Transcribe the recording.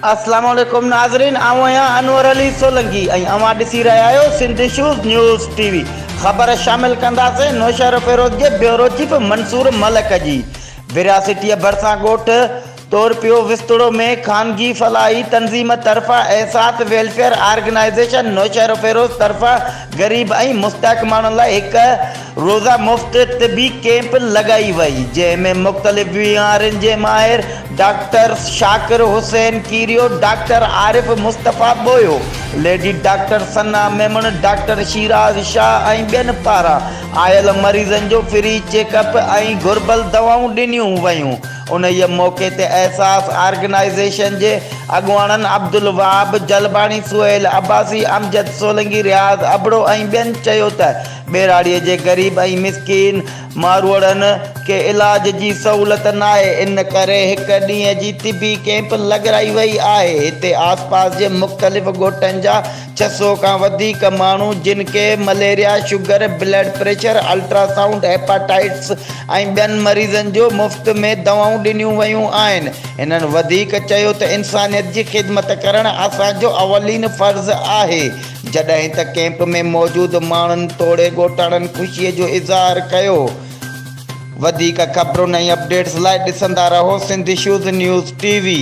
السلام عليڪم ناظرين آئون آهيان انور علي سولنگي ۽ اوهان ڏسي رهيا آهيو Sindh issues news T V خبر شامل ڪنداسين نوشهروفيروز جي بيورو چيف منصور ملڪ جي ورهاسيٽيء ڀرسان ڳوٺ طور پيو وستوڙو ۾ خانگي فلاحي تنظيم طرفان احساس ويلفيئر آرگنائيزيشن نوشهروفيروز طرفان غريب ۽ مستحق ماڻهن لاء هڪ روزه مفت طبي ڪيمپ لڳائي وئي جنهن ۾ مختلف بيمارين جي ماهر doctor Shakir Hussain Kerio doctor Arif Mustafa Bohio lady doctor Sana Memon doctor Shiraz Shah ۽ ٻين پاران آيل مريضن جو فري چيڪ اپ ۽ گهربل دوائون ڏنيون ويون انهيء موقعي تي احساس آرگنائيزيشن جي اڳواڻن عبدالوهاب جلباڻي، سهيل عباسي، امجد سولنگي، رياض ابڙو ۽ ٻين چيو ته ٻهراڙيء جي غريب ۽ مسڪين ماروئڙن کي علاج جي سهولت ناهي، ان ڪري هڪ ڏينهن جي طبي ڪئمپ لڳرائي وئي آهي، هتي آسپاس جي مختلف ڳوٺن جا ڇهه سؤ کان وڌيڪ ماڻهو جن کي malaria, sugar, blood pressure, ultrasound, hepatitis ۽ ٻين مريضن جو مفت ۾ دوائون ڏنيون ويون آهن. هنن وڌيڪ چيو ته انسانيت جي خدمت ڪرڻ اسان جو اولين فرض آهي. جڏهن ته ڪيمپ ۾ موجود ماڻهن توڙي ڳوٺاڻن خوشي جو اظهار ڪيو. وڌيڪ خبرن ۽ اپڊيٽس لاء ڏسندا رهو Sindh issues news T V.